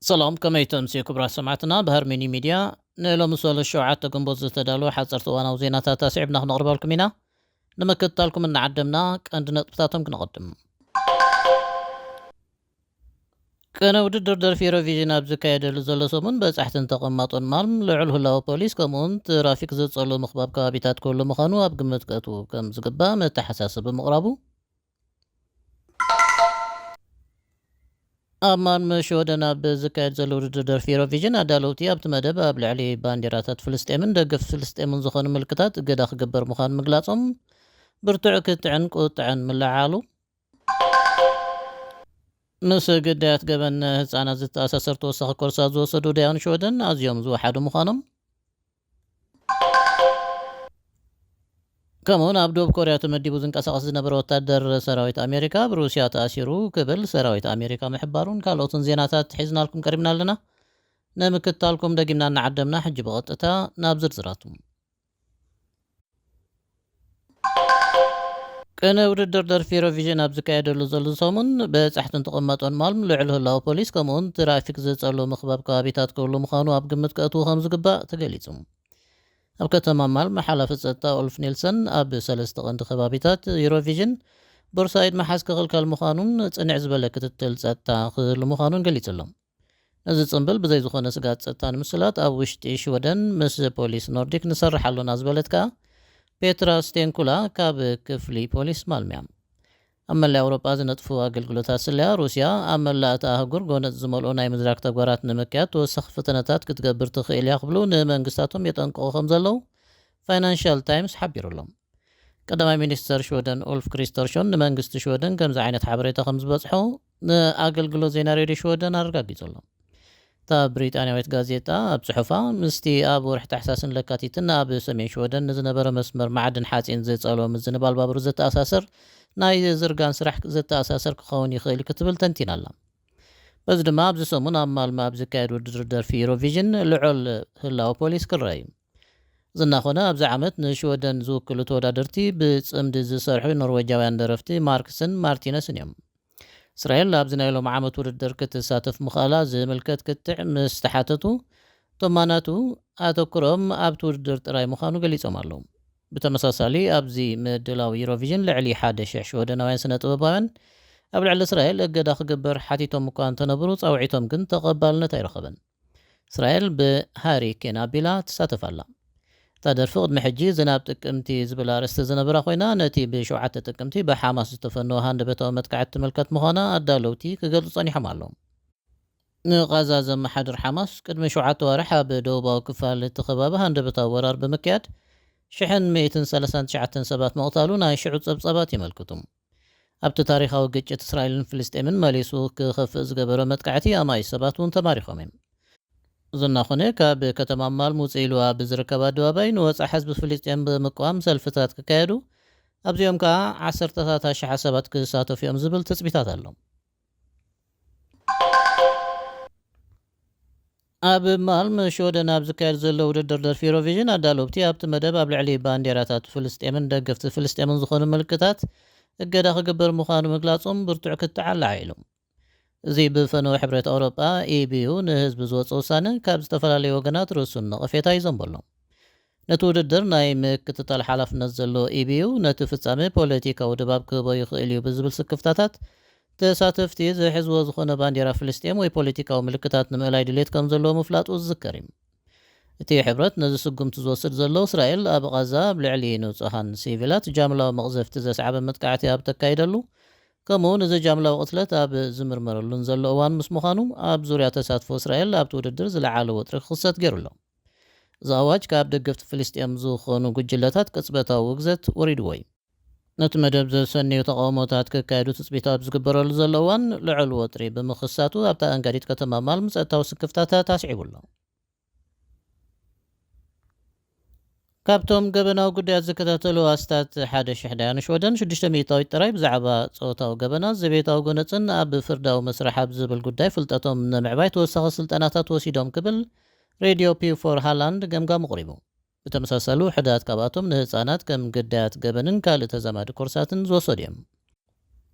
ሰላም ከመይ ተምስዩ ክብራት ሰማዕትና ብሃርመኒ ሚድያ ንሎሚ ሰሉስ ሸውዓተ ግንቦት ዝተዳለወ ሓፀርቲ እዋናዊ ዜናታት ኣስዒብና ክነቕርበልኩም ኢና ንምክትታልኩም እናዓደምና ቀንዲ ነጥብታቶም ክነቐድም ቅነ ውድድር ደርፊ ኤሮቪዥን ኣብ ዝካየደሉ ዘሎ ሰሙን በጻሕትን ተቐማጦን ማልም ልዑል ህላወ ፖሊስ ከምኡ'ውን ትራፊክ ዘጸሉ ምኽባብ ከባቢታት ክህሉ ምዃኑ ኣብ ግምት ከእትዉ ከም ዝግባእ መተሓሳሰቢ ምቕራቡ ኣብ ማልመ ሽወደን ኣብ ዝካየድ ዘሎ ውድድር ደርፊ ኤሮቪዥን ኣዳለውቲ ኣብቲ መደብ ኣብ ልዕሊ ባንዴራታት ፍልስጤምን ደገፍቲ ፍልስጤምን ዝኾኑ ምልክታት እገዳ ክግበር ምዃኑ ምግላጾም ብርቱዕ ክትዕን ቁጥዐን ምልዕዓሉ ምስ ግዳያት ገበን ህጻናት ዝተኣሳሰር ተወሳኺ ኮርሳት ዝወሰዱ ዳያኑ ሽወደን ኣዝዮም ዝወሓዱ ምዃኖም፣ ከምኡ'ውን ኣብ ደቡብ ኮርያ ተመዲቡ ዝንቀሳቐስ ዝነበረ ወታደር ሰራዊት ኣሜሪካ ኣብ ሩስያ ተኣሲሩ ክብል ሰራዊት ኣሜሪካ ምሕባሩን ካልኦትን ዜናታት ሒዝናልኩም ቀሪብና ኣለና። ንምክትታልኩም ደጊምና እናዓደምና ሕጂ ብቐጥታ ናብ ዝርዝራቱ። ቅነ ውድድር ደርፊ ኢሮቪዥን ኣብ ዝካየደሉ ዘሉ ሰሙን፣ በጻሕትን ትቕመጦን ማልም ልዑል ህላወ ፖሊስ ከምኡ'ውን ትራፊክ ዝጸልው ምኽባብ ከባቢታት ክህሉ ምዃኑ ኣብ ግምት ከእትዉ ከም ዝግባእ ተገሊጹ። ኣብ ከተማ ማልም ሓላፊ ጸጥታ ኡልፍ ኒልሰን ኣብ ሰለስተ ቀንዲ ከባቢታት ኢሮቪዥን ቦርሳ ኢድ ምሓዝ ክኽልከል ምዃኑን ጽንዕ ዝበለ ክትትል ጸጥታ ክህሉ ምዃኑን ገሊጹ'ሎ። ነዚ ጽንብል ብዘይ ዝኾነ ስግኣት ጸጥታ ንምስላጥ ኣብ ውሽጢ ሽወደን ምስ ፖሊስ ኖርዲክ ንሰርሕ ኣሎና ዝበለት ከኣ ፔትራ ስቴንኩላ ካብ ክፍሊ ፖሊስ ማልምያ። ኣብ መላእ ኣውሮጳ ዝነጥፉ ኣገልግሎታት ስለያ ሩስያ ኣብ መላእ እታ ኣህጉር ጎነጽ ዝመልኦ ናይ ምዝራግ ተግባራት ንምክያድ ተወሳኺ ፈተነታት ክትገብር ትኽእል እያ ክብሉ ንመንግስታቶም የጠንቅቑ ከም ዘለዉ ፋይናንሻል ታይምስ ሓቢሩ ኣሎ። ቀዳማይ ሚኒስተር ሽወደን ኡልፍ ክሪስተርሾን ንመንግስቲ ሽወደን ከምዚ ዓይነት ሓበሬታ ከም ዝበጽሖ ንኣገልግሎት ዜና ሬድዮ ሽወደን ኣረጋጊጹ ኣሎ። እታ ብሪጣንያዊት ጋዜጣ ኣብ ጽሑፋ፣ ምስቲ ኣብ ወርሒ ታሕሳስን ለካቲትን ኣብ ሰሜን ሽወደን ንዝነበረ መስመር ማዕድን ሓጺን ዝጸልወ ምዝንባል ባቡር ዘተኣሳስር ናይ ዝርጋን ስራሕ ዘተኣሳስር ክኸውን ይኽእል ክትብል ተንቲና ኣላ። በዚ ድማ ኣብዚ ሰሙን ኣብ ማልመ ኣብ ዝካየድ ውድድር ደርፊ ዩሮቪዥን ልዑል ህላወ ፖሊስ ክረኣ እዩ። እዚ እናኾነ ኣብዚ ዓመት ንሽወደን ዝውክሉ ተወዳደርቲ ብፅምዲ ዝሰርሑ ኖርወጃውያን ደረፍቲ ማርክስን ማርቲነስን እዮም። እስራኤል ኣብዚ ናይ ሎሚ ዓመት ውድድር ክትሳተፍ ምኽኣላ ዝምልከት ክትዕ ምስ ተሓተቱ ቶማናቱ ኣተኩሮኦም ኣብቲ ውድድር ጥራይ ምዃኑ ገሊፆም ኣለው። ብተመሳሳሊ ኣብዚ ምድላው ዩሮቪዥን ልዕሊ ሓደ ሽሕ ሽወደናውያን ስነ ጥበባውያን ኣብ ልዕሊ እስራኤል እገዳ ክግበር ሓቲቶም እኳ እንተነብሩ ፃውዒቶም ግን ተቐባልነት ኣይረኸበን። እስራኤል ብሃሪ ኬን ኣቢላ ትሳተፍ ኣላ። እታ ደርፊ ቅድሚ ሕጂ ዝናብ ጥቅምቲ ዝብል ኣርእስቲ ዝነበራ ኮይና ነቲ ብ ሸውዓተ ጥቅምቲ ብሓማስ ዝተፈነወ ሃንደበታዊ መጥቃዕቲ ትምልከት ምዃና ኣዳለውቲ ክገልጹ ጸኒሖም ኣለው። ንቓዛ ዘመሓድር ሓማስ ቅድሚ ሸውዓተ ኣዋርሕ ኣብ ደቡባዊ ክፋል እቲ ከባቢ ሃንደበታዊ ወራር ብምክያድ ሽሕን ሚእትን ሰላሳን ትሽዓተን ሰባት ምቕታሉ ናይ ሽዑ ጸብጻባት የመልክቱ። ኣብቲ ታሪኻዊ ግጭት እስራኤልን ፍልስጤምን መሊሱ ክኸፍእ ዝገበሮ መጥቃዕቲ ኣማኢት ሰባት እውን ተማሪኾም እዮም። እዚ እናኾነ ካብ ከተማ ማል ሙጽኢሉ ኣብ ዝርከብ ኣደባባይ ንወጽዓ ህዝቢ ፍልስጤም ብምቅዋም ሰልፍታት ክካየዱ ኣብዚኦም ከኣ ዓሰርተታት ኣሽሓት ሰባት ክሳተፉ እዮም ዝብል ትጽቢታት ኣሎ። ኣብ ማልመ ሽወደን ኣብ ዝካየድ ዘሎ ውድድር ደርፊ ዩሮቪዥን ኣዳለውቲ ኣብቲ መደብ ኣብ ልዕሊ ባንዴራታት ፍልስጤምን ደገፍቲ ፍልስጤምን ዝኾኑ ምልክታት እገዳ ክግበር ምዃኑ ምግላፆም ብርቱዕ ክትዕ ኣላዒሉ። እዚ ብፈነወ ሕብረት ኣውሮጳ፣ EU፣ ንህዝቢ ዝወፀ ውሳነ ካብ ዝተፈላለዩ ወገናት ርእሱን ነቐፌታ ይዘንበሎም። ነቲ ውድድር ናይ ምክትታል ሓላፍነት ዘለዎ ኢቢዩ፣ ነቲ ፍጻመ ፖለቲካዊ ድባብ ክህቦ ይኽእል'ዩ ብዝብል ስክፍታታት፣ ተሳተፍቲ ዝሕዝዎ ዝኾነ ባንዴራ ፍልስጤም ወይ ፖለቲካዊ ምልክታት ንምእላይ ድሌት ከምዘለዎ ምፍላጡ ዝዝከር'ዩ። እቲ ሕብረት ነዚ ስጉምቲ ዝወስድ ዘሎ፣ እስራኤል ኣብ ቓዛ ኣብ ልዕሊ ንጹሃን ሲቪላት ጃምላዊ መቕዘፍቲ ዘስዓበ መጥቃዕቲ ኣብ ተካይደሉ ከምኡ ውን እዚ ጃምላዊ ቅትለት ኣብ ዝምርመረሉን ዘሎ እዋን ምስ ምዃኑ፣ ኣብ ዙርያ ተሳትፎ እስራኤል ኣብቲ ውድድር ዝለዓለ ወጥሪ ክኽሰት ገይሩ'ሎ። እዚ ኣዋጅ ካብ ደገፍቲ ፍልስጤም ዝኾኑ ጉጅለታት ቅጽበታዊ ውግዘት ወሪድዎ'ዩ። ነቲ መደብ ዘሰንዩ ተቓውሞታት ክካየዱ ትጽቢት ኣብ ዝግበረሉ ዘሎ እዋን ልዑል ወጥሪ ብምኽሳቱ ኣብታ ኣኣንጋዲት ከተማ ማልም ጸጥታዊ ስክፍታታት ኣስዒቡ ኣሎ። ካብቶም ገበናዊ ጉዳያት ዝከታተሉ ኣስታት ሓደ ሽሕ ዳያኑ ሽወደን፣ ሽዱሽተ ሚእታዊት ጥራይ ብዛዕባ ጾታዊ ገበናት፣ ዘቤታዊ ጎነጽን ኣብ ፍርዳዊ መስርሕ ኣብ ዝብል ጉዳይ ፍልጠቶም ንምዕባይ ተወሳኺ ስልጠናታት ወሲዶም ክብል ሬድዮ ፒው ፎር ሃላንድ ገምጋሙ ኣቕሪቡ። ብተመሳሳሊ ውሑዳት ካብኣቶም ንህጻናት ከም ግዳያት ገበንን ካልእ ተዛማዲ ኮርሳትን ዝወሰዱ እዮም።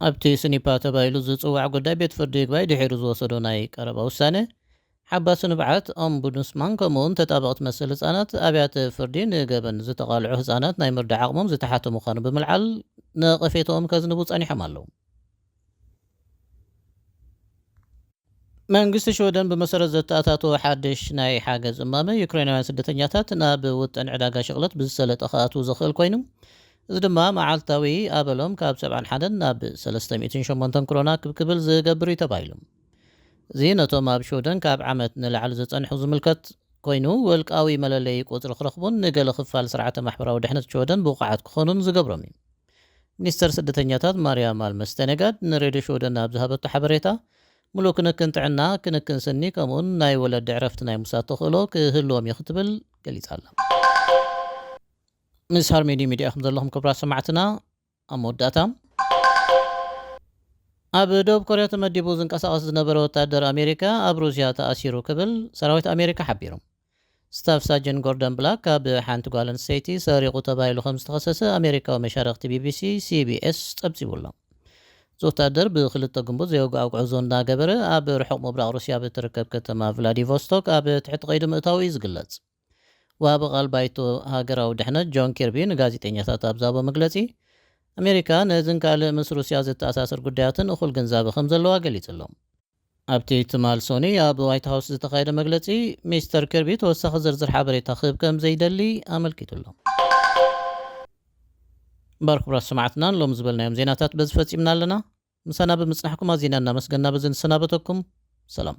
ኣብቲ ስኒፓ ተባሂሉ ዝጽዋዕ ጉዳይ ቤት ፍርዲ ይግባይ ድሒሩ ዝወሰዶ ናይ ቀረባ ውሳነ፣ ሓባሲ ንብዓት፣ ኦምቡድስማን፣ ከምኡ'ውን ተጣበቕቲ መሰል ህጻናት፣ ኣብያተ ፍርዲ ንገበን ዝተቓልዑ ህጻናት ናይ ምርዳእ ዓቕሞም ዝተሓተ ምዃኑ ብምልዓል ነቐፌታኦም ከዝንቡ ጸኒሖም ኣለዉ። መንግስቲ ሽወደን ብመሰረት ዘተኣታተዎ ሓድሽ ናይ ሓገዝ እማመ፣ ዩክሬናውያን ስደተኛታት ናብ ውጥን ዕዳጋ ሽቕለት ብዝሰለጠ ክኣትዉ ዘኽእል ኮይኑ፣ እዚ ድማ መዓልታዊ ኣበሎም ካብ ሰብዓን ሓደን ናብ ሰለስተ ሚእትን ሸሞንተን ክሮና ክብ ክብል ዝገብር'ዩ ተባሂሉ። እዚ ነቶም ኣብ ሽውደን ካብ ዓመት ንላዕሊ ዝጸንሑ ዝምልከት ኮይኑ፣ ውልቃዊ መለለዪ ቁጽሪ ክረኽቡን ንገለ ክፋል ስርዓተ ማሕበራዊ ድሕነት ሽወደን ብቑዓት ክኾኑን ዝገብሮም እዩ። ሚኒስተር ስደተኛታት ማርያ ማልመ ስቴነጋድ ንሬድዮ ሽውደን ኣብ ዝሃበቶ ሓበሬታ፣ ምሉእ ክንክን ጥዕና፣ ክንክን ስኒ ከምኡ'ውን ናይ ወለዲ ዕረፍቲ ናይ ምውሳድ ተኽእሎ ክህልዎም እዩ ክትብል ገሊጻ'ላ። ምስ ሃርሜዲ ሚድያ ኢኹም ዘለኹም ክብራት ሰማዕትና። ኣብ መወዳእታ፣ ኣብ ደቡብ ኮርያ ተመዲቡ ዝንቀሳቐስ ዝነበረ ወታደር ኣሜሪካ ኣብ ሩስያ ተኣሲሩ ክብል ሰራዊት ኣሜሪካ ሓቢሩ። ስታፍ ሳጅን ጎርደን ብላክ ካብ ሓንቲ ጓል ኣንስተይቲ ሰሪቑ ተባሂሉ ከምዝተኸሰሰ ኣሜሪካዊ መሻርኽቲ ቢቢሲ ሲቢኤስ ፀብፂቡ ኣሎ። እዚ ወታደር ብክልተ ግንቡት ዘይወግኣዊ ጉዕዞ እናገበረ ኣብ ርሑቕ ምብራቕ ሩስያ ብእትርከብ ከተማ ቭላዲቮስቶክ ኣብ ትሕቲ ቀይዲ ምእታዉ እዩ ዝግለፅ። ወሃቢ ቓል ባይቶ ሃገራዊ ድሕነት ጆን ኪርቢ ንጋዜጠኛታት ኣብ ዝሃቦ መግለጺ፣ ኣሜሪካ ነዝን ካልእ ምስ ሩስያ ዘተኣሳስር ጉዳያትን እኹል ግንዛበ ከም ዘለዋ ገሊጹ ኣሎ። ኣብቲ ትማል ሶኑይ ኣብ ዋይት ሃውስ ዝተኻየደ መግለጺ፣ ሚስተር ኪርቢ ተወሳኺ ዝርዝር ሓበሬታ ክህብ ከም ዘይደሊ ኣመልኪቱ ኣሎ። እምበኣር ክቡራት ሰማዕትና ንሎሚ ዝበልናዮም ዜናታት በዚ ፈጺምና ኣለና። ምሳና ብምጽናሕኩም ኣዚና እናመስገና በዚ ንሰናበተኩም። ሰላም።